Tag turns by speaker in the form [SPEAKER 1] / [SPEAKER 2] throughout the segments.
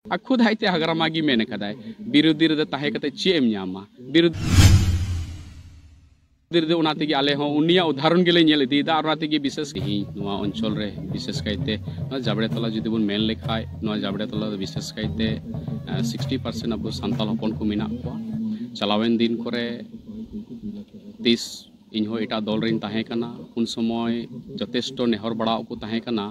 [SPEAKER 1] ᱟᱨ ᱠᱷᱩᱫ ᱟᱡᱛᱮ ᱦᱟᱜᱨᱟᱢᱟ ᱜᱮ ᱢᱮᱱ ᱟᱠᱟᱫᱟᱭ ᱵᱤᱨᱳᱫᱷᱤ ᱨᱮᱫᱚ ᱛᱟᱦᱮᱸ ᱠᱟᱛᱮ ᱪᱮᱫ ᱮᱢ ᱧᱟᱢᱟ ᱵᱤᱨᱳᱫᱷᱤ ᱨᱮᱫᱚ ᱚᱱᱟ ᱛᱮᱜᱮ ᱟᱞᱮ ᱦᱚᱸ ᱩᱱᱤᱭᱟᱜ ᱩᱫᱟᱦᱚᱨᱚᱱ ᱜᱮᱞᱮ ᱧᱮᱞ ᱤᱫᱤᱭᱮᱫᱟ ᱟᱨ ᱚᱱᱟ ᱛᱮᱜᱮ ᱵᱤᱥᱮᱥ ᱛᱮᱦᱮᱧ ᱱᱚᱣᱟ ᱚᱧᱪᱚᱞ ᱨᱮ ᱵᱤᱥᱮᱥ ᱠᱟᱭᱛᱮ ᱱᱚᱣᱟ ᱡᱟᱵᱲᱮ ᱛᱚᱞᱟ ᱡᱩᱫᱤ ᱵᱚᱱ ᱢᱮᱱ ᱞᱮᱠᱷᱟᱡ ᱱᱚᱣᱟ ᱡᱟᱵᱲᱮ ᱛᱚᱞᱟ ᱫᱚ ᱵᱤᱥᱮᱥ ᱠᱟᱭᱛᱮ ᱥᱤᱠᱥᱴᱤ ᱯᱟᱨᱥᱮᱱᱴ ᱟᱵᱚ ᱥᱟᱱᱛᱟᱞ ᱦᱚᱯᱚᱱ ᱠᱚ ᱢᱮᱱᱟᱜ ᱠᱚᱣᱟ ᱪᱟᱞᱟᱣᱮᱱ ᱫᱤᱱ ᱠᱚᱨᱮ ᱛᱤᱥ ᱤᱧ ᱦᱚᱸ ᱮᱴᱟᱜ ᱫᱚᱞ ᱨᱮᱧ ᱛᱟᱦᱮᱸ ᱠᱟᱱᱟ ᱩᱱ ᱥᱚᱢᱚᱭ ᱡᱚᱛᱷᱮᱥᱴᱚ ᱱᱮᱦᱚᱨ ᱵᱟᱲᱟᱣ ᱠᱚ ᱛᱟᱦᱮᱸ ᱠᱟᱱᱟ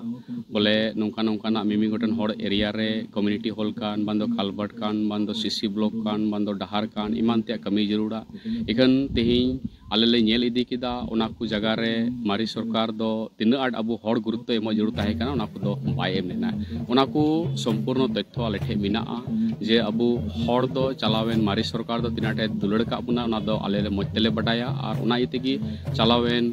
[SPEAKER 1] ᱵᱚᱞᱮ ᱱᱚᱝᱠᱟ ᱱᱚᱝᱠᱟᱱᱟᱜ ᱢᱤᱢᱤᱫ ᱜᱚᱴᱮᱱ ᱦᱚᱲ ᱮᱨᱤᱭᱟ ᱨᱮ ᱠᱚᱢᱤᱱᱤᱴᱤ ᱦᱚᱞ ᱠᱟᱱ ᱵᱟᱝ ᱫᱚ ᱠᱟᱞᱵᱟᱨᱴ ᱠᱟᱱ ᱵᱟᱝ ᱫᱚ ᱥᱤᱥᱤ ᱵᱞᱚᱠ ᱠᱟᱱ ᱵᱟᱝ ᱫᱚ ᱰᱟᱦᱟᱨ ᱠᱟᱱ ᱮᱢᱟᱱ ᱛᱮᱭᱟᱜ ᱠᱟᱹᱢᱤ ᱡᱟᱹᱨᱩᱲᱟ ᱤᱠᱷᱟᱹᱱ ᱛᱮᱦᱮᱧ ᱟᱞᱮ ᱞᱮ ᱧᱮᱞ ᱤᱫᱤ ᱠᱮᱫᱟ ᱚᱱᱟ ᱠᱚ ᱡᱟᱭᱜᱟ ᱨᱮ ᱢᱟᱨᱮ ᱥᱚᱨᱠᱟᱨ ᱫᱚ ᱛᱤᱱᱟᱹᱜ ᱟᱸᱴ ᱟᱵᱚ ᱦᱚᱲ ᱜᱩᱨᱩᱛᱛᱚ ᱮᱢᱚᱜ ᱡᱟᱹᱨᱩᱲ ᱛᱟᱦᱮᱸ ᱠᱟᱱᱟ ᱚᱱᱟ ᱠᱚᱫᱚ ᱵᱟᱭ ᱮᱢ ᱞᱮᱱᱟ ᱚᱱᱟ ᱠᱚ ᱥᱚᱢᱯᱩᱨᱱᱚ ᱛᱚᱛᱛᱷᱚ ᱟᱞᱮ ᱴᱷᱮᱱ ᱢᱮᱱᱟᱜᱼᱟ ᱡᱮ ᱟᱵᱚ ᱦᱚᱲ ᱫᱚ ᱪᱟᱞᱟᱣᱮᱱ ᱢᱟᱨᱮ ᱥᱚᱨᱠᱟᱨ ᱫᱚ ᱛᱤᱱᱟᱹᱜ ᱟᱸᱴᱮ ᱫᱩᱞᱟᱹᱲ ᱠᱟᱜ ᱵᱚᱱᱟ ᱚᱱᱟ ᱫᱚ ᱟᱞᱮ ᱫᱚ ᱢᱚᱡᱽ ᱛᱮᱞᱮ ᱵᱟᱰᱟᱭᱟ ᱟᱨ ᱚᱱᱟ ᱤᱭᱟᱹ ᱛᱮᱜᱮ ᱪᱟᱞᱟᱣᱮᱱ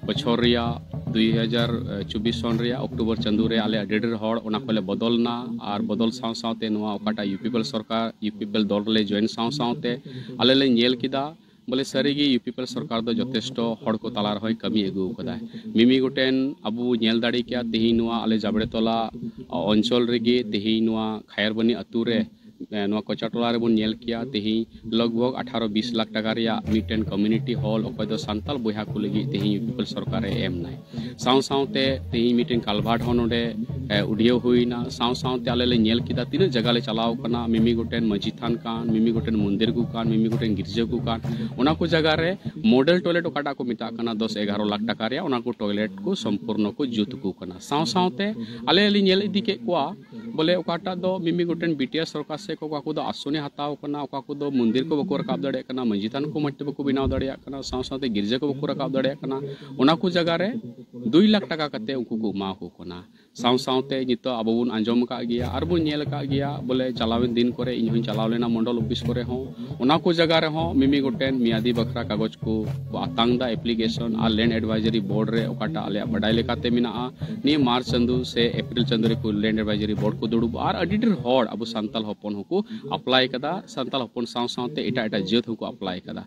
[SPEAKER 1] ᱵᱚᱪᱷᱚᱨ ᱨᱮᱭᱟᱜ ᱫᱩᱭ ᱦᱟᱡᱟᱨ ᱪᱚᱵᱵᱤᱥ ᱥᱚᱱ ᱨᱮᱭᱟᱜ ᱚᱠᱴᱳᱵᱚᱨ ᱪᱟᱸᱫᱳ ᱨᱮ ᱟᱞᱮ ᱟᱹᱰᱤ ᱰᱷᱮᱨ ᱦᱚᱲ ᱚᱱᱟ ᱠᱷᱚᱡ ᱞᱮ ᱵᱚᱫᱚᱞ ᱮᱱᱟ ᱟᱨ ᱵᱚᱫᱚᱞ ᱥᱟᱶ ᱥᱟᱶᱛᱮ ᱱᱚᱣᱟ ᱚᱠᱟᱴᱟᱜ ᱤᱭᱩ ᱯᱤ ᱯᱤ ᱮᱞ ᱥᱚᱨᱠᱟᱨ ᱤᱭᱩ ᱯᱤ ᱯᱤ ᱮᱞ ᱫᱚᱞ ᱨᱮᱞᱮ ᱡᱚᱭᱮᱱ ᱥᱟᱶ ᱥᱟᱶᱛᱮ ᱟᱞᱮ ᱞᱮ ᱧᱮᱞ ᱠᱮᱫᱟ ᱵᱚᱞᱮ ᱥᱟᱹᱨᱤ ᱜᱮ ᱤᱭᱩ ᱯᱤ ᱯᱤ ᱮᱞ ᱥᱚᱨᱠᱟᱨ ᱫᱚ ᱡᱚᱛᱷᱮᱥᱴᱚ ᱦᱚᱲ ᱠᱚ ᱛᱟᱞᱟ ᱨᱮᱦᱚᱸᱭ ᱠᱟᱹᱢᱤ ᱟᱹᱜᱩ ᱟᱠᱟᱫᱟ ᱢᱤᱢᱤ ᱜᱚᱴᱮᱱ ᱟᱵᱚ ᱧᱮᱞ ᱫᱟᱲᱮ ᱠᱮᱭᱟ ᱛᱮᱦᱮᱧ ᱱᱚᱣᱟ ᱟᱞᱮ ᱡᱟᱵᱽᱲᱮ ᱛᱚᱞᱟ ᱚᱧᱪᱚᱞ ᱨᱮᱜᱮ ᱛᱮᱦᱮᱧ ᱱᱚᱣᱟ ᱠᱷᱟᱭᱟᱨᱵᱟᱹᱱᱤ ᱟᱹᱛᱩ ᱨᱮ ᱱᱚᱣᱟ ᱠᱚᱪᱟ ᱴᱚᱞᱟ ᱨᱮᱵᱚᱱ ᱧᱮᱞ ᱠᱮᱭᱟ ᱛᱮᱦᱮᱧ ᱞᱚᱜᱽ ᱵᱷᱚᱜᱽ ᱟᱴᱷᱟᱨᱚ ᱵᱤᱥ ᱞᱟᱠᱷ ᱴᱟᱠᱟ ᱨᱮᱭᱟᱜ ᱢᱤᱫᱴᱮᱱ ᱠᱚᱢᱤᱱᱤᱴᱤ ᱦᱚᱞ ᱚᱠᱚᱭ ᱫᱚ ᱥᱟᱱᱛᱟᱲ ᱵᱚᱭᱦᱟ ᱠᱚ ᱞᱟᱹᱜᱤᱫ ᱛᱮᱦᱮᱧ ᱤᱭᱩ ᱯᱤ ᱯᱤ ᱮᱞ ᱥᱚᱨᱠᱟᱨᱮ ᱮᱢ ᱮᱱᱟᱭ ᱥᱟᱶ ᱥᱟᱶᱛᱮ ᱛᱮᱦᱮᱧ ᱢᱤᱫᱴᱮᱱ ᱠᱟᱞᱵᱷᱟᱨᱴ ᱦᱚᱸ ᱱᱚᱰᱮ ᱩᱰᱤᱭᱟᱹᱣ ᱦᱩᱭᱱᱟ ᱥᱟᱶ ᱥᱟᱶᱛᱮ ᱟᱞᱮ ᱞᱮ ᱧᱮᱞ ᱠᱮᱫᱟ ᱛᱤᱱᱟᱹᱜ ᱡᱟᱭᱜᱟ ᱞᱮ ᱪᱟᱞᱟᱣ ᱠᱟᱱᱟ ᱢᱤᱢᱤ ᱜᱚᱴᱮᱱ ᱢᱟᱹᱡᱷᱤ ᱛᱷᱟᱱ ᱠᱟᱱ ᱢᱤᱢᱤ ᱜᱚᱴᱮᱱ ᱢᱚᱱᱫᱤᱨ ᱠᱚ ᱠᱟᱱ ᱢᱤᱢᱤ ᱜᱚᱴᱮᱱ ᱜᱤᱨᱡᱟᱹ ᱠᱚ ᱠᱟᱱ ᱚᱱᱟ ᱠᱚ ᱡᱟᱭᱜᱟ ᱨᱮ ᱢᱚᱰᱮᱞ ᱴᱚᱭᱞᱮᱴ ᱚᱠᱟᱴᱟᱜ ᱠᱚ ᱢᱮᱛᱟᱜ ᱠᱟᱱᱟ ᱫᱚᱥ ᱮᱜᱟᱨᱚ ᱞᱟᱠᱷ ᱴᱟᱠᱟ ᱨᱮᱭᱟᱜ ᱚᱱᱟ ᱠᱚ ᱴᱚᱭᱞᱮᱴ ᱠᱚ ᱥᱚᱢᱯᱩᱨᱱᱚ ᱠᱚ ᱡᱩᱛ ᱟᱠᱚ ᱠᱟᱱᱟ ᱥᱟᱶ ᱥᱟᱶᱛᱮ ᱟᱞᱮ ᱞᱮ ᱧᱮᱞ ᱤᱫᱤ ᱠᱮᱫ ᱠᱚᱣᱟ ᱵᱚᱞᱮ ᱚᱠᱟᱴᱟᱜ ᱫᱚ ᱢᱤᱢᱤ ᱜᱚᱴᱮᱱ ᱵᱤᱴᱤᱟᱨ ᱥᱚᱨᱠᱟᱨ ᱥᱮᱫ ᱠᱷᱚᱱ ᱚᱠᱟ ᱠᱚᱫᱚ ᱟᱥᱚᱱᱮ ᱦᱟᱛᱟᱣ ᱠᱟᱱᱟ ᱚᱠᱟ ᱠᱚᱫᱚ ᱢᱚᱱᱫᱤᱨ ᱠᱚ ᱵᱟᱠᱚ ᱨᱟᱠᱟᱵ ᱫᱟᱲᱮᱭᱟᱜ ᱠᱟᱱᱟ ᱢᱟᱹᱡᱷᱤ ᱛᱷᱟᱱ ᱠᱚ ᱢᱚᱡᱽ ᱛᱮ ᱵᱟᱠᱚ ᱵᱮᱱᱟᱣ ᱫᱟᱲᱮᱭᱟᱜ ᱠᱟᱱᱟ ᱥᱟᱶ ᱥᱟᱶᱛᱮ ᱜᱤᱨᱡᱟᱹ ᱠᱚ ᱵᱟᱠᱚ ᱨᱟᱠᱟᱵ ᱫᱟᱲᱮᱭᱟᱜ ᱠᱟᱱᱟ ᱚᱱᱟ ᱠᱚ ᱡᱟᱭᱜᱟ ᱨᱮ ᱫᱩᱭ ᱞᱟᱠᱷ ᱴᱟᱠᱟ ᱠᱟᱛᱮ ᱩᱱᱠᱩ ᱠᱚ ᱮᱢᱟ ᱠᱚ ᱠᱟᱱᱟ ᱥᱟᱶ ᱥᱟᱶᱛᱮ ᱱᱤᱛᱚᱜ ᱟᱵᱚ ᱵᱚᱱ ᱟᱸᱡᱚᱢ ᱟᱠᱟᱫ ᱜᱮᱭᱟ ᱟᱨ ᱵᱚᱱ ᱧᱮᱞ ᱟᱠᱟᱫ ᱜᱮᱭᱟ ᱵᱚᱞᱮ ᱪᱟᱞᱟᱣᱮᱱ ᱫᱤᱱ ᱠᱚᱨᱮ ᱤᱧ ᱦᱚᱸᱧ ᱪᱟᱞᱟᱣ ᱞᱮᱱᱟ ᱢᱚᱱᱰᱚᱞ ᱚᱯᱷᱤᱥ ᱠᱚᱨᱮ ᱦᱚᱸ ᱚᱱᱟ ᱠᱚ ᱡᱟᱭᱜᱟ ᱨᱮᱦᱚᱸ ᱢᱤᱢᱤ ᱜᱚᱴᱮᱱ ᱢᱤᱭᱟᱫᱤ ᱵᱟᱠᱷᱨᱟ ᱠᱟᱜᱚᱡᱽ ᱠᱚ ᱟᱛᱟᱝ ᱫᱟ ᱮᱯᱞᱤᱠᱮᱥᱚᱱ ᱟᱨ ᱞᱮᱱᱰ ᱮᱰᱵᱷᱟᱭᱡᱟᱨᱤ ᱵᱳᱨᱰ ᱨᱮ ᱚᱠᱟᱴᱟᱜ ᱟᱞᱮᱭᱟᱜ ᱵᱟᱰᱟᱭ ᱞᱮᱠᱟᱛᱮ ᱢᱮᱱᱟᱜᱼᱟ ᱱᱤᱭᱟᱹ ᱢᱟᱨᱪ ᱪᱟᱸᱫᱳ ᱥᱮ ᱮᱯᱨᱤᱞ ᱪᱟᱸᱫᱳ ᱨᱮᱠᱚ ᱞᱮᱱᱰ ᱮᱰᱵᱷᱟᱭᱡᱟᱨᱤ ᱵᱳᱨᱰ ᱠᱚ ᱫᱩᱲᱩᱵᱼᱟ ᱟᱨ ᱟᱹᱰᱤ ᱰᱷᱮᱨ ᱦᱚᱲ ᱟᱵᱚ ᱥᱟᱱᱛᱟᱞ ᱦᱚᱯᱚᱱ ᱦᱚᱸᱠᱚ ᱟᱯᱞᱟᱭ ᱠᱟᱫᱟ ᱥᱟᱱᱛᱟᱞ ᱦᱚᱯᱚᱱ ᱥᱟᱶ ᱥᱟᱶᱛᱮ ᱮᱴᱟᱜ ᱮᱴᱟᱜ ᱡᱟᱹᱛ ᱦᱚᱸᱠᱚ ᱟᱯᱞᱟᱭ ᱠᱟᱫᱟ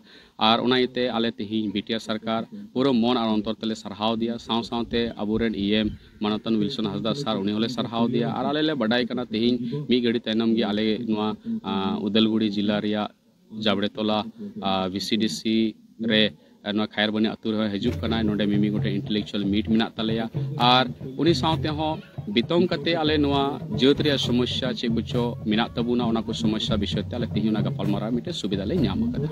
[SPEAKER 1] ᱟᱨ ᱚᱱᱟ ᱤᱭᱟᱹᱛᱮ ᱟᱞᱮ ᱛᱮᱦᱮᱧ ᱵᱤᱴᱤᱟᱨ ᱥᱚᱨᱠᱟᱨ ᱯᱩᱨᱟᱹ ᱢᱚᱱ ᱟᱨ ᱚᱱᱛᱚᱨ ᱛᱮᱞᱮ ᱥᱟᱨᱦᱟᱣ ᱫᱮᱭᱟ ᱥᱟᱶ ᱥᱟᱶᱛᱮ ᱟᱵᱚᱨᱮᱱ ᱤ ᱮᱢ ᱢᱟᱱᱚᱛᱟᱱ ᱣᱤᱞᱥᱚᱱ ᱦᱟᱸᱥᱫᱟ ᱥᱟᱨ ᱩᱱᱤ ᱦᱚᱸᱞᱮ ᱥᱟᱨᱦᱟᱣ ᱫᱮᱭᱟ ᱟᱨ ᱟᱞᱮ ᱞᱮ ᱵᱟᱰᱟᱭ ᱠᱟᱱᱟ ᱛᱮᱦᱮᱧ ᱢᱤᱫ ᱜᱷᱟᱹᱲᱤ ᱛᱟᱭᱱᱚᱢ ᱜᱮ ᱟᱞᱮ ᱱᱚᱣᱟ ᱩᱫᱟᱞᱜᱩᱲᱤ ᱡᱮᱞᱟ ᱨᱮᱭᱟᱜ ᱡᱟᱵᱽᱲᱮ ᱛᱚᱞᱟ ᱵᱷᱤ ᱥᱤ ᱰᱤ ᱥᱤ ᱨᱮ ᱱᱚᱣᱟ ᱠᱷᱟᱭᱟᱨᱵᱟᱹᱱᱤ ᱟᱹᱛᱩ ᱨᱮᱦᱚᱸ ᱦᱤᱡᱩᱜ ᱠᱟᱱᱟ ᱱᱚᱰᱮ ᱢᱤᱢᱤ ᱜᱚᱴᱮᱡ ᱤᱱᱴᱮᱞᱮᱠᱪᱩᱭᱟᱞ ᱢᱤᱴ ᱢᱮᱱᱟᱜ ᱛᱟᱞᱮᱭᱟ ᱟᱨ ᱩᱱᱤ ᱥᱟᱶᱛᱮ ᱦᱚᱸ ᱵᱤᱛᱚᱝ ᱠᱟᱛᱮ ᱟᱞᱮ ᱱᱚᱣᱟ ᱡᱟᱹᱛ ᱨᱮᱭᱟᱜ ᱥᱚᱢᱚᱥᱥᱟ ᱪᱮᱫ ᱠᱚᱪᱚ ᱢᱮᱱᱟᱜ ᱛᱟᱵᱚᱱᱟ ᱚᱱᱟ ᱠᱚ ᱥᱚᱢᱚᱥᱥᱟ ᱵᱤᱥᱚᱭ ᱛᱮ ᱟᱞᱮ ᱛᱮᱦᱮᱧ ᱚᱱᱟ ᱜᱟᱯᱟᱞᱢᱟᱨᱟᱣ ᱢᱤᱫᱴᱮᱱ ᱥᱩᱵᱤᱫᱷᱟ ᱞᱮ ᱧᱟᱢ ᱟᱠᱟᱫᱟ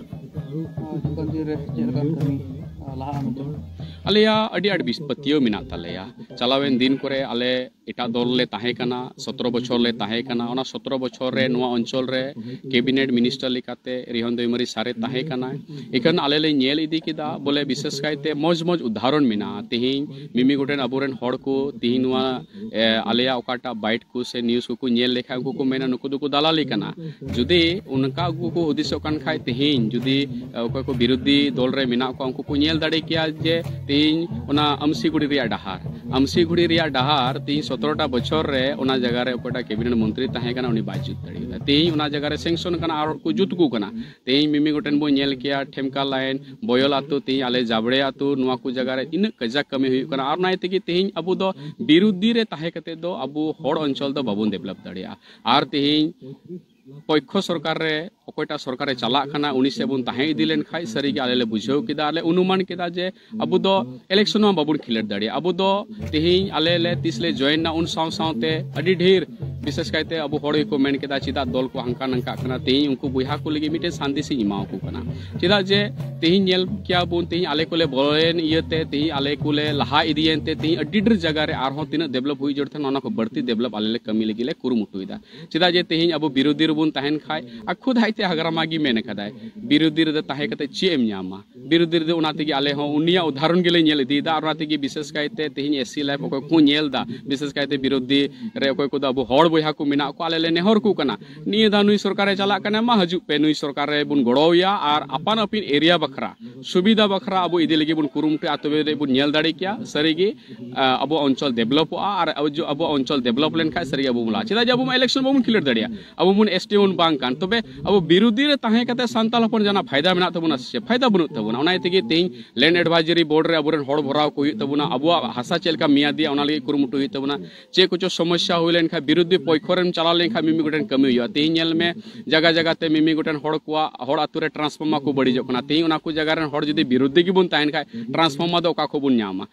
[SPEAKER 1] ᱟᱞᱮᱭᱟ ᱟᱹᱰᱤ ᱟᱹᱰᱤ ᱵᱤᱥ ᱯᱟᱹᱛᱭᱟᱹᱣ ᱢᱮᱱᱟᱜ ᱛᱟᱞᱮᱭᱟ ᱪᱟᱞᱟᱣᱮᱱ ᱫᱤᱱ ᱠᱚᱨᱮ ᱟᱞᱮ ᱮᱴᱟᱜ ᱫᱚᱞ ᱞᱮ ᱛᱟᱦᱮᱸ ᱠᱟᱱᱟ ᱥᱚᱛᱨᱚ ᱵᱚᱪᱷᱚᱨ ᱞᱮ ᱛᱟᱦᱮᱸ ᱠᱟᱱᱟ ᱚᱱᱟ ᱥᱚᱛᱨᱚ ᱵᱚᱪᱷᱚᱨ ᱨᱮ ᱱᱚᱣᱟ ᱚᱧᱪᱚᱞ ᱨᱮ ᱠᱮᱵᱤᱱᱮᱴ ᱢᱤᱱᱤᱥᱴᱟᱨ ᱞᱮᱠᱟᱛᱮ ᱨᱤᱦᱚᱱ ᱫᱚᱭᱢᱟᱨᱤ ᱥᱟᱨᱮ ᱛᱟᱦᱮᱸ ᱠᱟᱱᱟ ᱤᱠᱷᱟᱱ ᱟᱞᱮ ᱞᱮ ᱧᱮᱞ ᱤᱫᱤ ᱠᱮᱫᱟ ᱵᱚᱞᱮ ᱵᱤᱥᱮᱥ ᱠᱟᱭᱛᱮ ᱢᱚᱡᱽ ᱢᱚᱡᱽ ᱩᱫᱟᱦᱚᱨᱚᱱ ᱢᱮᱱᱟᱜᱼᱟ ᱛᱮᱦᱮᱧ ᱢᱤᱢᱤ ᱜᱚᱴᱮᱱ ᱟᱵᱚᱨᱮᱱ ᱦᱚᱲ ᱠᱚ ᱛᱮᱦᱮᱧ ᱱᱚᱣᱟ ᱟᱞᱮᱭᱟᱜ ᱚᱠᱟᱴᱟᱜ ᱵᱟᱭᱤᱴ ᱠᱚ ᱥᱮ ᱱᱤᱭᱩᱡᱽ ᱠᱚᱠᱚ ᱧᱮᱞ ᱞᱮᱠᱷᱟᱱ ᱩᱱᱠᱩ ᱠᱚ ᱢᱮᱱᱟ ᱱᱩᱠᱩ ᱫᱚᱠᱚ ᱫᱟᱞᱟᱞᱤ ᱠᱟᱱᱟ ᱡᱩᱫᱤ ᱚᱱᱠᱟ ᱩᱱᱠᱩ ᱠᱚ ᱦᱩᱫᱤᱥᱚᱜ ᱠᱟᱱ ᱠᱷᱟᱡ ᱛᱮᱦᱮᱧ ᱡᱩᱫᱤ ᱚᱠᱚᱭ ᱠᱚ ᱵᱤᱨᱳᱫᱷᱤ ᱫᱚᱞ ᱨᱮ ᱢᱮᱱᱟᱜ ᱠᱚᱣᱟ ᱩᱱᱠᱩ ᱠᱚ ᱧᱮᱞ ᱫᱟᱲᱮ ᱠᱮᱭᱟ ᱡᱮ ᱛᱮᱦᱮᱧ ᱚᱱᱟ ᱟᱢᱥᱤᱜᱩᱲᱤ ᱨᱮᱭᱟᱜ ᱰᱟᱦᱟᱨ ᱟᱢᱥᱤᱜᱩᱲᱤ ᱨᱮᱭᱟᱜ ᱰᱟᱦᱟᱨ ᱛᱮᱦᱮᱧ ᱥᱚᱛᱨᱚᱴᱟ ᱵᱚᱪᱷᱚᱨ ᱨᱮ ᱚᱱᱟ ᱡᱟᱭᱜᱟ ᱨᱮ ᱚᱠᱚᱭᱴᱟᱜ ᱠᱮᱵᱤᱱᱮᱴ ᱢᱚᱱᱛᱨᱤ ᱛᱟᱦᱮᱸ ᱠᱟᱱᱟ ᱩᱱᱤ ᱵᱟᱭ ᱡᱩᱛ ᱫᱟᱲᱮᱭᱟᱫᱟ ᱛᱮᱦᱮᱧ ᱚᱱᱟ ᱡᱟᱭᱜᱟ ᱨᱮ ᱥᱮᱝᱥᱚᱱ ᱠᱟᱱᱟ ᱟᱨ ᱠᱚ ᱡᱩᱛ ᱟᱠᱚ ᱠᱟᱱᱟ ᱛᱮᱦᱮᱧ ᱢᱤᱢᱤ ᱜᱚᱴᱮᱱ ᱵᱚᱱ ᱧᱮᱞ ᱠᱮᱭᱟ ᱴᱷᱮᱢᱠᱟ ᱞᱟᱭᱤᱱ ᱵᱚᱭᱚᱞ ᱟᱛᱳ ᱛᱮᱦᱮᱧ ᱟᱞᱮ ᱡᱟᱵᱲᱮ ᱟᱛᱳ ᱱᱚᱣᱟ ᱠᱚ ᱡᱟᱭᱜᱟ ᱨᱮ ᱤᱱᱟᱹᱜ ᱠᱟᱡᱟᱠ ᱠᱟᱹᱢᱤ ᱦᱩᱭᱩᱜ ᱠᱟᱱᱟ ᱟᱨ ᱚᱱᱟ ᱤᱭᱟᱹ ᱛᱮᱜᱮ ᱛᱮᱦᱮᱧ ᱟᱵᱚ ᱫᱚ ᱵᱤᱨᱩᱫᱷᱤ ᱨᱮ ᱛᱟᱦᱮᱸ ᱠᱟᱛᱮ ᱫᱚ ᱟᱵᱚ ᱦᱚᱲ ᱚᱧᱪᱚᱞ ᱫᱚ ᱵᱟᱵᱚᱱ ᱰᱮᱵᱷᱞᱚᱯ ᱫᱟᱲᱮᱭᱟᱜᱼᱟ ᱟᱨ ᱛᱮᱦᱮᱧ ᱯᱚᱠᱠᱷᱚ ᱥᱚᱨᱠᱟᱨ ᱨᱮ ᱚᱠᱚᱭᱴᱟᱜ ᱥᱚᱨᱠᱟᱨᱮ ᱪᱟᱞᱟᱜ ᱠᱟᱱᱟ ᱩᱱᱤ ᱥᱮᱫ ᱵᱚᱱ ᱛᱟᱦᱮᱸ ᱤᱫᱤ ᱞᱮᱱᱠᱷᱟᱱ ᱥᱟᱹᱨᱤᱜᱮ ᱟᱞᱮ ᱞᱮ ᱵᱩᱡᱷᱟᱹᱣ ᱠᱮᱫᱟ ᱟᱨᱞᱮ ᱚᱱᱩᱢᱟᱱ ᱠᱮᱫᱟ ᱡᱮ ᱟᱵᱚ ᱫᱚ ᱤᱞᱮᱠᱥᱚᱱ ᱦᱚᱸ ᱵᱟᱵᱚᱱ ᱠᱷᱮᱞᱳᱰ ᱫᱟᱲᱮᱭᱟᱜᱼᱟ ᱟᱵᱚ ᱫᱚ ᱛᱮᱦᱮᱧ ᱟᱞᱮ ᱞᱮ ᱛᱤᱥ ᱞᱮ ᱡᱚᱭᱮᱱᱟ ᱩᱱ ᱥᱟᱶ ᱥᱟᱶᱛᱮ ᱟᱹᱰᱤ ᱰᱷᱮᱨ ᱵᱤᱥᱮᱥ ᱠᱟᱭᱛᱮ ᱟᱵᱚ ᱦᱚᱲ ᱜᱮᱠᱚ ᱢᱮᱱ ᱠᱮᱫᱟ ᱪᱮᱫᱟᱜ ᱫᱚᱞ ᱠᱚ ᱦᱟᱱᱠᱟ ᱱᱟᱝᱠᱟᱜ ᱠᱟᱱᱟ ᱛᱮᱦᱮᱧ ᱩᱱᱠᱩ ᱵᱚᱭᱦᱟ ᱠᱚ ᱞᱟᱹᱜᱤᱫ ᱢᱤᱫᱴᱮᱱ ᱥᱟᱸᱫᱮᱥ ᱤᱧ ᱮᱢᱟ ᱟᱠᱚ ᱠᱟᱱᱟ ᱪᱮᱫᱟᱜ ᱡᱮ ᱛᱮᱦᱮᱧ ᱧᱮᱞ ᱠᱮᱭᱟ ᱵᱚᱱ ᱛᱮᱦᱮᱧ ᱟᱞᱮ ᱠᱚᱞᱮ ᱵᱚᱞᱚᱭᱮᱱ ᱤᱭᱟᱹᱛᱮ ᱛᱮᱦᱮᱧ ᱟᱞᱮ ᱠᱚᱞᱮ ᱞᱟᱦᱟ ᱤᱫᱤᱭᱮᱱ ᱛᱮ ᱛᱮᱦᱮᱧ ᱟᱹᱰᱤ ᱰᱷᱮᱨ ᱡᱟᱭᱜᱟ ᱨᱮ ᱟᱨᱦᱚᱸ ᱛᱤᱱᱟᱹᱜ ᱰᱮᱵᱷᱞᱚᱯ ᱦᱩᱭ ᱡᱚᱲ ᱛᱟᱦᱮᱱᱟ ᱚᱱᱟ ᱠᱚ ᱵᱟᱹᱲᱛᱤ ᱰᱮᱵᱷᱞᱚᱯ ᱟᱞᱮ ᱞᱮ ᱠᱟᱹᱢᱤ ᱞᱟᱹᱜᱤᱫ ᱞᱮ ᱠᱩᱨᱩᱢᱩᱴᱩᱭᱮᱫᱟ ᱪᱮᱫᱟᱜ ᱡᱮ ᱛᱮᱦᱮᱧ ᱟᱵᱚ ᱵᱤᱨᱳᱫᱷᱤ ᱨᱮᱵᱚᱱ ᱛᱟᱦᱮᱱ ᱠᱷᱟᱡ ᱟᱨ ᱠᱷᱩᱫ ᱟᱡᱛᱮ ᱦᱟᱜᱨᱟᱢᱟ ᱜᱮ ᱢᱮᱱ ᱟᱠᱟᱫᱟᱭ ᱵᱤᱨᱳᱫᱷᱤ ᱨᱮᱫᱚ ᱛᱟᱦᱮᱸ ᱠᱟᱛᱮ ᱪᱮᱫ ᱮᱢ ᱧᱟᱢᱟ ᱫᱷᱤᱨᱮ ᱫᱷᱤᱨᱮ ᱚᱱᱟ ᱛᱮᱜᱮ ᱟᱞᱮ ᱦᱚᱸ ᱩᱱᱤᱭᱟᱜ ᱩᱫᱟᱦᱚᱨᱚᱱ ᱜᱮᱞᱮ ᱧᱮᱞ ᱤᱫᱤᱭᱮᱫᱟ ᱟᱨ ᱚᱱᱟ ᱛᱮᱜᱮ ᱵᱤᱥᱮᱥ ᱠᱟᱭᱛᱮ ᱛᱮᱦᱮᱧ ᱮᱥ ᱥᱤ ᱞᱟᱭᱤᱯᱷ ᱚᱠᱚᱭ ᱠᱚ ᱧᱮᱞ ᱮᱫᱟ ᱵᱤᱥᱮᱥ ᱠᱟᱭᱛᱮ ᱵᱤᱨᱳᱫᱷᱤ ᱨᱮ ᱚᱠᱚᱭ ᱠᱚᱫᱚ ᱟᱵᱚ ᱦᱚᱲ ᱵᱚᱭᱦᱟ ᱠᱚ ᱢᱮᱱᱟᱜ ᱠᱚᱣᱟ ᱟᱞᱮ ᱞᱮ ᱱᱮᱦᱚᱨ ᱠᱚ ᱠᱟᱱᱟ ᱱᱤᱭᱟᱹ ᱫᱷᱟᱣ ᱱᱩᱭ ᱥᱚᱨᱠᱟᱨᱮ ᱪᱟᱞᱟᱜ ᱠᱟᱱᱟ ᱢᱟ ᱦᱤᱡᱩᱜ ᱯᱮ ᱱᱩᱭ ᱥᱚᱨᱠᱟᱨ ᱨᱮ ᱵᱚᱱ ᱜᱚᱲᱚᱣᱟᱭᱟ ᱟᱨ ᱟᱯᱟᱱ ᱟᱹᱯᱤᱱ ᱮᱨᱤᱭᱟ ᱵᱟᱠᱷᱨᱟ ᱥᱩᱵᱤᱫᱷᱟ ᱵᱟᱠᱷᱨᱟ ᱟᱵᱚ ᱤᱫᱤ ᱞᱟᱹᱜᱤᱫ ᱵᱚᱱ ᱠᱩᱨᱩᱢᱩᱴᱩᱭᱟ ᱛᱚᱵᱮ ᱨᱮ ᱵᱚᱱ ᱧᱮᱞ ᱫᱟᱲᱮ ᱠᱮᱭᱟ ᱥᱟᱹᱨᱤᱜᱮ ᱟᱵᱚᱣᱟᱜ ᱚᱧᱪᱚᱞ ᱰᱮᱵᱷᱞᱚᱯᱚᱜᱼᱟ ᱟᱨ ᱟᱵᱚᱣᱟᱜ ᱚᱧᱪᱚᱞ ᱰᱮᱵᱷᱞᱚᱯ ᱞᱮᱱᱠᱷᱟᱱ ᱥᱟᱹᱨᱤᱜᱮ ᱟᱵᱚ ᱵᱚᱱ ᱞᱟᱦᱟᱜᱼᱟ ᱪᱮᱫᱟᱜ ᱡᱮ ᱟᱵᱚ ᱢᱟ ᱤᱞᱮᱠᱥᱚᱱ ᱵᱟᱵᱚᱱ ᱠᱷᱤᱞᱳᱰ ᱫᱟᱲᱮᱭᱟᱜᱼᱟ ᱟᱵᱚ ᱵᱚᱱ ᱮᱥ ᱴᱤ ᱵᱚᱱ ᱵᱟᱝ ᱠᱟᱱ ᱛᱚᱵᱮ ᱟᱵᱚ ᱵᱤᱨᱳᱫᱷᱤ ᱨᱮ ᱛᱟᱦᱮᱸ ᱠᱟᱛᱮ ᱥᱟᱱᱛᱟᱲ ᱦᱚᱯᱚᱱ ᱡᱟᱦᱟᱱᱟᱜ ᱯᱷᱟᱭᱫᱟ ᱢᱮᱱᱟᱜ ᱛᱟᱵᱚᱱᱟ ᱥᱮ ᱯᱷᱟᱭᱫᱟ ᱵᱟᱹᱱᱩᱜ ᱛᱟᱵᱚᱱᱟ ᱚᱱᱟ ᱛᱮᱜᱮ ᱛᱮᱦᱮᱧ ᱞᱮᱱᱰ ᱮᱰᱵᱷᱟᱭᱡᱟᱨᱤ ᱵᱳᱨᱰ ᱨᱮ ᱟᱵᱚᱨᱮᱱ ᱦᱚᱲ ᱵᱷᱚᱨᱟᱣ ᱠᱚ ᱦᱩᱭᱩᱜ ᱛᱟᱵᱚᱱᱟ ᱟᱵᱚᱣᱟᱜ ᱦᱟᱥᱟ ᱪᱮᱫ ᱞᱮᱠᱟ ᱢᱮᱭᱟᱫᱤᱭᱟ ᱚᱱᱟ ᱞᱟᱹᱜᱤᱫ ᱠᱩᱨᱩᱢᱩᱴᱩ ᱦᱩᱭᱩᱜ ᱛᱟᱵᱚᱱᱟ ᱪᱮᱫ ᱠᱚᱪᱚ ᱥᱚᱢᱚᱥᱥᱟ ᱦᱩᱭ ᱞᱮᱱᱠᱷᱟᱱ ᱵᱤᱨᱳᱫᱷᱤ ᱯᱚᱠᱠᱷᱚ ᱨᱮᱢ ᱪᱟᱞᱟᱣ ᱞᱮᱱᱠᱷᱟᱱ ᱢᱤᱢᱤ ᱜᱚᱴᱮᱱ ᱠᱟᱹᱢᱤ ᱦᱩᱭᱩᱜᱼᱟ ᱛᱮᱦᱮᱧ ᱧᱮᱞ ᱢᱮ ᱡᱟᱭᱜᱟ ᱡᱟᱭᱜᱟ ᱛᱮ ᱢᱤᱢᱤ ᱜᱚᱴᱮᱱ ᱦᱚᱲ ᱠᱚᱣᱟᱜ ᱦᱚᱲ ᱟᱛᱳ ᱨᱮ ᱴᱨᱟᱱᱥᱯᱷᱚᱨᱢᱟᱨ ᱠᱚ ᱵᱟᱹᱲᱤᱡᱚᱜ ᱠᱟᱱᱟ ᱛᱮᱦᱮᱧ ᱚᱱᱟ ᱠᱚ ᱡᱟᱭᱜᱟ ᱨᱮᱱ ᱦᱚᱲ ᱡᱩᱫᱤ ᱵᱤᱨᱳᱫᱷᱤ ᱜᱮᱵᱚᱱ ᱛᱟᱦᱮᱱ ᱠᱷᱟᱱ ᱴᱨᱟᱱᱥᱯᱷᱚᱨᱢᱟᱨ ᱫᱚ ᱚᱠᱟ ᱠᱷᱚᱱ ᱵᱚᱱ ᱧᱟᱢᱟ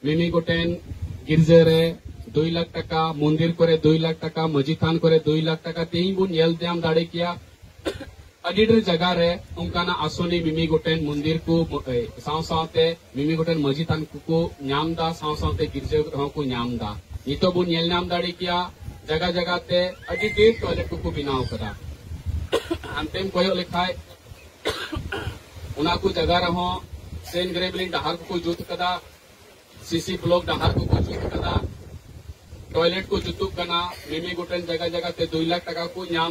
[SPEAKER 1] ᱢᱤᱢᱤ ᱜᱚᱴᱮᱱ ᱜᱤᱨᱡᱟᱹ ᱨᱮ ᱫᱩᱭ ᱞᱟᱠᱷ ᱴᱟᱠᱟ ᱢᱚᱱᱫᱤᱨ ᱠᱚᱨᱮ ᱫᱩᱭ ᱞᱟᱠᱷ ᱴᱟᱠᱟ ᱢᱟᱹᱡᱷᱤ ᱛᱷᱟᱱ ᱠᱚᱨᱮ ᱫᱩᱭ ᱞᱟᱠᱷ ᱴᱟᱠᱟ ᱛᱮᱦᱤᱧ ᱵᱚᱱ ᱧᱮᱞ ᱧᱟᱢ ᱫᱟᱲᱮ ᱠᱮᱭᱟ ᱟᱹᱰᱤ ᱰᱷᱮᱨ ᱡᱟᱭᱜᱟ ᱨᱮ ᱚᱱᱠᱟᱱᱟᱜ ᱟᱥᱚᱱᱤ ᱢᱤᱢᱤ ᱜᱚᱴᱮᱱ ᱢᱚᱱᱫᱤᱨ ᱠᱚ ᱥᱟᱶ ᱥᱟᱶᱛᱮ ᱢᱤᱢᱤ ᱜᱚᱴᱮᱱ ᱢᱟᱹᱡᱷᱤ ᱛᱷᱟᱱ ᱠᱚᱠᱚ ᱧᱟᱢ ᱮᱫᱟ ᱥᱟᱶ ᱥᱟᱶᱛᱮ ᱜᱤᱨᱡᱟᱹ ᱨᱮᱦᱚᱸ ᱠᱚ ᱧᱟᱢ ᱮᱫᱟ ᱱᱤᱛᱚᱜ ᱵᱚᱱ ᱧᱮᱞ ᱧᱟᱢ ᱫᱟᱲᱮ ᱠᱮᱭᱟ ᱡᱟᱭᱜᱟ ᱡᱟᱭᱜᱟ ᱛᱮ ᱟᱹᱰᱤ ᱰᱷᱮᱨ ᱴᱚᱭᱞᱮᱴ ᱠᱚᱠᱚ ᱵᱮᱱᱟᱣ ᱟᱠᱟᱫᱟ ᱦᱟᱱᱛᱮᱢ ᱠᱚᱭᱚᱜ ᱞᱮᱠᱷᱟᱡ ᱚᱱᱟ ᱠᱚ ᱡᱟᱭᱜᱟ ᱨᱮᱦᱚᱸ ᱥᱮᱱ ᱜᱨᱮᱵᱞᱤᱝ ᱰᱟᱦᱟᱨ ᱠᱚᱠᱚ ᱡᱩᱛ ᱠᱟᱫᱟ ᱥᱤᱥᱤ ᱵᱞᱚᱠ ᱰᱟᱦᱟᱨ ᱠᱚᱠᱚ ᱡᱩᱛ ᱠᱟᱫᱟ ᱴᱚᱭᱞᱮᱴ ᱠᱚ ᱡᱩᱛᱩᱜ ᱠᱟᱱᱟ ᱢᱤᱢᱤ ᱜᱚᱴᱮᱱ ᱡᱟᱭᱜᱟ ᱡᱟᱭᱜᱟ ᱛᱮ ᱫᱩᱭ ᱞᱟᱠᱷ ᱴᱟᱠᱟ ᱠᱚ ᱧᱟᱢ